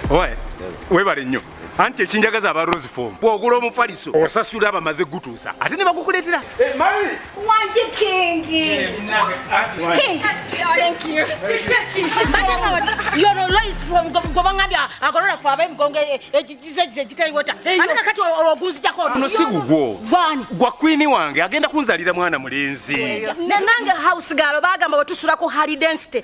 owaye webale nnyo anti ekinjagaza aba rose form bwogula omufaliso osasula abamaze gutuusa ate ne bagukuleetera eh, guno si gugwo gwa kwini wange agenda kunzalira mwana mulenzi nange house galo bagamba wetusula ku hali density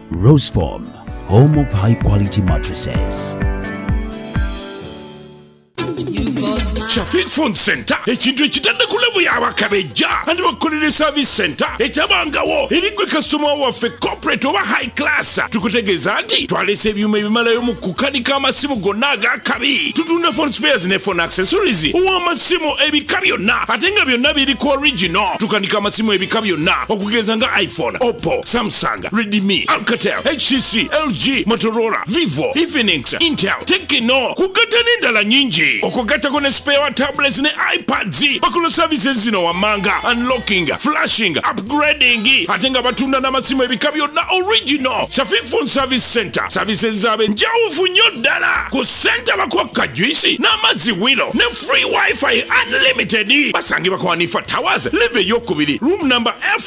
Roseform, home of high quality mattresses. Shafiq Phone Center ekintu ekitadde ku levu y'abakabejja andi bakukolera service center etabangawo eri gwe kasitoma waffe corporate oba high class tukutegeeza nti twalese ebyuma ebimalayo mu kukanika amasimu gonna ag'akabi tutunda phone spares ne phone accessories ow'amasimu ebika byonna ate nga byonna biri ku original tukanika amasimu ebika byonna okugenza nga iphone oppo samsung Redmi, Alcatel, HTC, LG, Motorola, Vivo, Infinix, Intel, Tecno kugatta n'endala nyingi okugattako ne spare wa tablets ne iPads bakola services zino wammanga unlocking, flashing, upgrading ate nga batunda n'amasimu ebika byonna original Shafiq Phone Service Center services zaabwe njawufu nnyo ddala ku senta bakwakka juisi n'amazzi wilo ne free wifi unlimited basangibwa kwa Hanifa Towers live eyokubiri room number F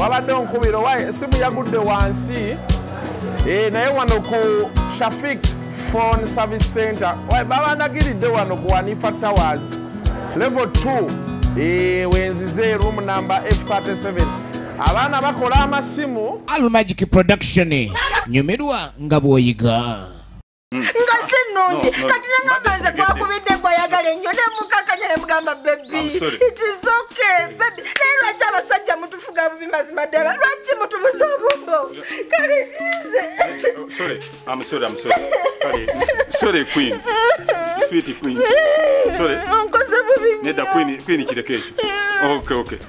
wabadde onkubira owa esimu yagudde wansi eh, naye wano ku shafik phone service center babandagiridde wano ku wanifa towers level 2 eh, wenzize room number f37 abaana bakola amasimu almagic production nyumirwa nga bwoyiga mm. nga si nnungi kati nangamba nze gwakubidde gwayagala ennyo nemukakanya ne mugamba bebi it is okay bebi naye lwaki abasajja mutufuga bubi mazima ddala lwaki mutubuza obumbo kale ize onkoze bubi nedda kwini kireko ekyo okay okay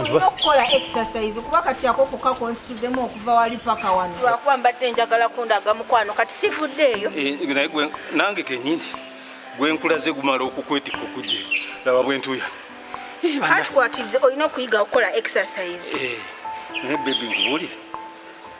olina okukola exercise kuba kati ako koka konsituddemu okuva wali paka wano lwakuba mbadde njagala kundaga mukwano kati sivudde eyo eh, nange kenyini gwenkulaze gumala okukwetikka okugye laba bwentuya eh, atukwatize olina okuyiga okukola exercise eh, naye bebi nkubuulire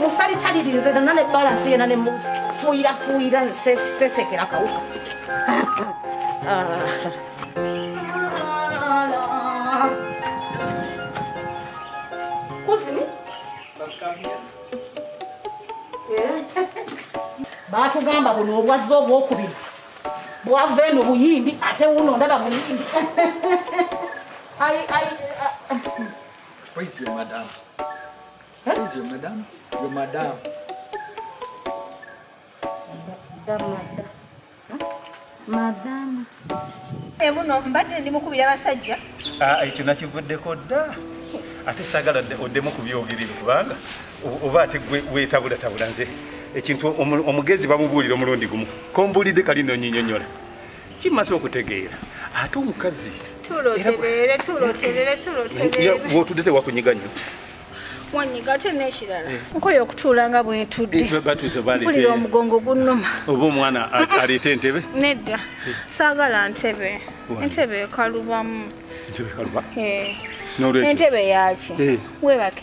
musali talirinze nana ne balansi yena nemufuuyira fuuyira sesekera kawuka batugamba buno obwazza obwokubiri bwava eno buyimbi ate wuno ndaba buyimbi Where is your madam? Where is your madam? Your madam. Madam. Emuno eh, mbadde ndi mukubira basajja. Ah, ekyo nakivuddeko dda. Ate sagala oddemu ku byogerere kubanga oba ate gwe weetabulatabula nze ekintu omugezi bamubuulira omulundi gumu kombuulidde kali nonyinyonyola kimaze okutegeera ate omukazi wotude tewakunyiga nyo wanyiga ate nekirala eh. nkoyo okutuula nga bwetuddempulira eh, omugongo gunnuma oba omwana aleeta entebe nedda eh. saagala ntebe entebe ekalubamu entebe yaki webake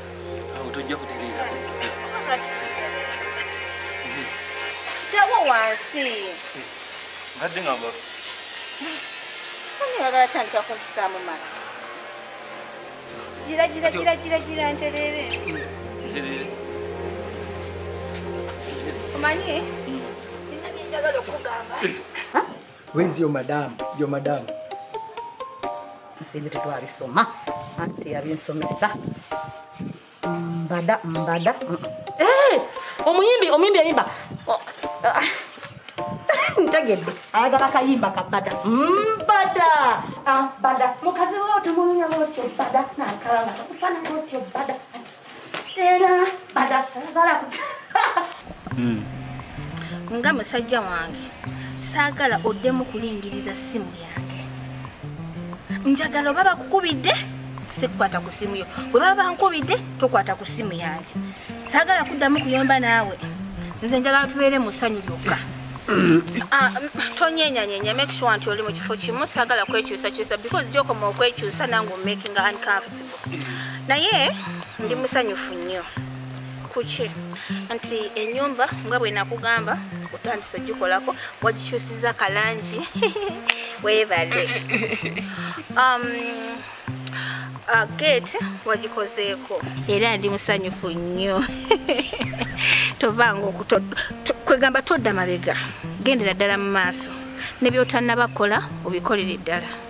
awo tojja kutereera dawo wansi mbadde nga mba ani yagala tandika kumpisaamu maaso gira gira gira gira gira ntereere ntereere omanyi nina byenjagala okugamba Where's your madam? Your madam. Ebyo tetwabisoma ate yabinsomesa mbada mbada eh, omuyimbi omuyimbi yayimba oh, ah. ntegedde ayagala kayimba kabada mbada ah, bada mukazi wotomunyama otyo bada nakalanga takufananga otyo bada Hmm. nga musajja wange saagala oddemu kulingiriza simu yange njagala oba bakukubidde sikukwata ku simu yo bwe baba bankubidde tokwata ku simu yange saagala kuddamu kuyomba naawe nze njagala tubeere mu ssanyu lyokka Ah, tonyenyanyenya make sure nti oli mu kifo kimu sagala kwekyusakyusa because gyokoma okwekyusa nange omakinga uncomfortable naye ndi musanyufu nnyo kuki nti enyumba nga bwenakugamba otandisa ogikolako wagikyusiza kalangi webale um, uh, gate wagikozeeko era ndi musanyufu nnyo tovanga kwegamba todda mabega gendera ddala mu maaso nebyotannabakola obikolere ddala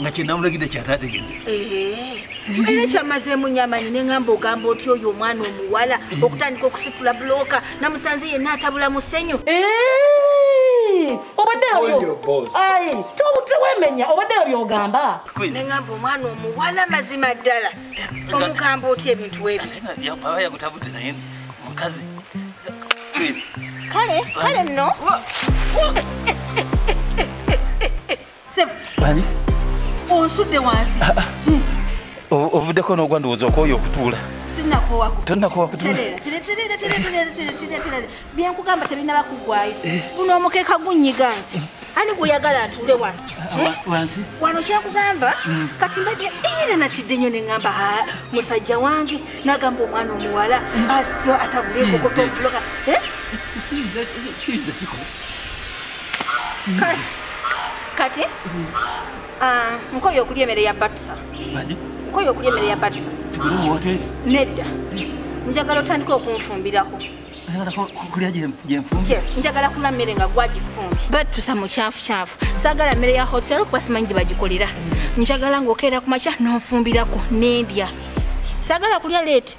nga kyenamulagidde kyatategedde era kyamazeemu nyamanyi neŋamba ogamba oti oyo omwana omuwala eh. okutandika okusitula bulooka namusanze yenna atabula musenyu eh. obaddeotewemenya obaddeyo byogamba neŋamba omwana omuwala mazima ddala eh, omugamba oti ebintu webiyagutabudde naye mukazi kale kale nno Sebo. Ani? Onsudde wansi. Ah, ah. Hmm. Ovuddeko n'ogwa ndowooza okooye okutuula. Sinnakowako. Tonnakowa kutuula. Tereera, tereera, tereera, tereera, tereera, tereera. Bye nkugamba tebinnaba kugwayo. Eh. Guno omukeeka gunnyiga nti. Eh. Ani gw'oyagala atuule wano? Ah, eh? Wansi. Wano kyakugamba hmm. kati mbadde era natidde nnyo ne ŋŋamba musajja wange n'agamba omwana omuwala hmm. asityo atabule kokotobuloga. Kiyinza kikola. kati ah, nkoye okulya emere ya batusa nkoye okulya emere ya batusa nedda njagala otandika okunfumbirako njagala kula mmere nga gwagifumbi batusa mukyafukyafu sagala mmere ya hotel kuba simanyi gye bagikolera njagala ngaokeera ku makya nonfumbirako nendya sagala kulya leeti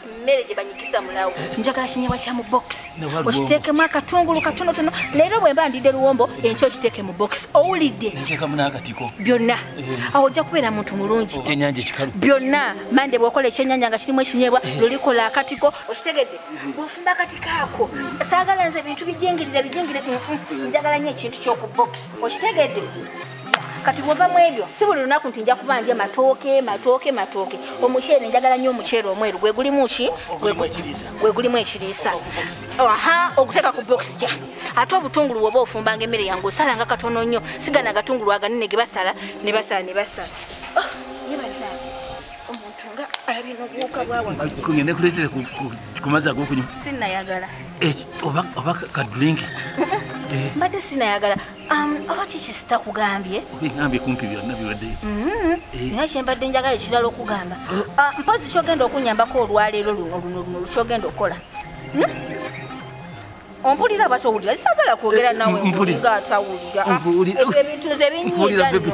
mmere gye banyikisa mulawo njagala kinyewa kya mu bokisi okiteekemu akatungulu katonotono leero bwe mba ndidde luwombo enkyo okiteeke mu bokisi owulidde byonna eh. awo ojja kubeera muntu mulungi byonna mande bw'okola ekyenyanja nga kirimu ekinyeebwa eh. lulikola akatiko okitegedde mm-hmm. bw'ofumba akatiko ako saagala nze ebintu bijingirire bijingire mm, mm, njagala nnyo ekintu ky'oku bokisi okitegedde kati bwova mu ebyo si buli lunaku nti nja kuba ndya matooke matooke matooke omuceere njagala nnyo omuceere omweru gwe gulimu ki gwe gulimu ekiriisa aha oguteeka ku bokisi ja ate obutungulu woba ofumbanga emmere yange osalanga katono nnyo sigana agatungulu aganene ge basala ne basala ne basala oh, ngende kuletere kumazi agokunywa sinayagala eh, oba kadrinki eh. mbadde sinayagala oba kiki sitakugambye ngambye kumpi byonna biwedde mm-hmm. eh. naye kyembadde njagala ekirala okugamba eh. ah, mpozi kyogenda okunyambako olwaleero luno luno luno lukyogenda okukola hmm? ompulira aba towulira sagala kwogera eh, nawe nga atawulira ah, ebintu nze binyiiga nno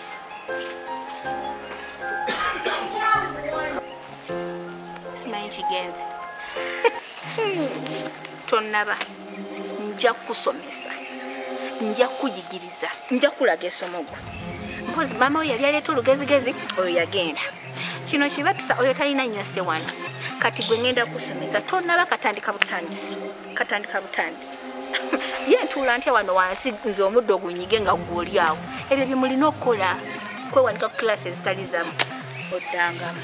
simanyi kigenze tonaba nja kukusomesa nja kukuyigiriza nja kukulaga esomo gwe mpozi maama oyo yali aleeta olugezigezi oyo yagenda kino kibatusa oyo talina nyose wano kati gwe ngenda kusomesa tonaba katandika butandisi katandika butandisi ye ntuula ntya wano wansi nze omuddo ogunyige nga gwoli awo ebyo byemulina okukola kwewanika ku kilasi ezitali zamu oddangamu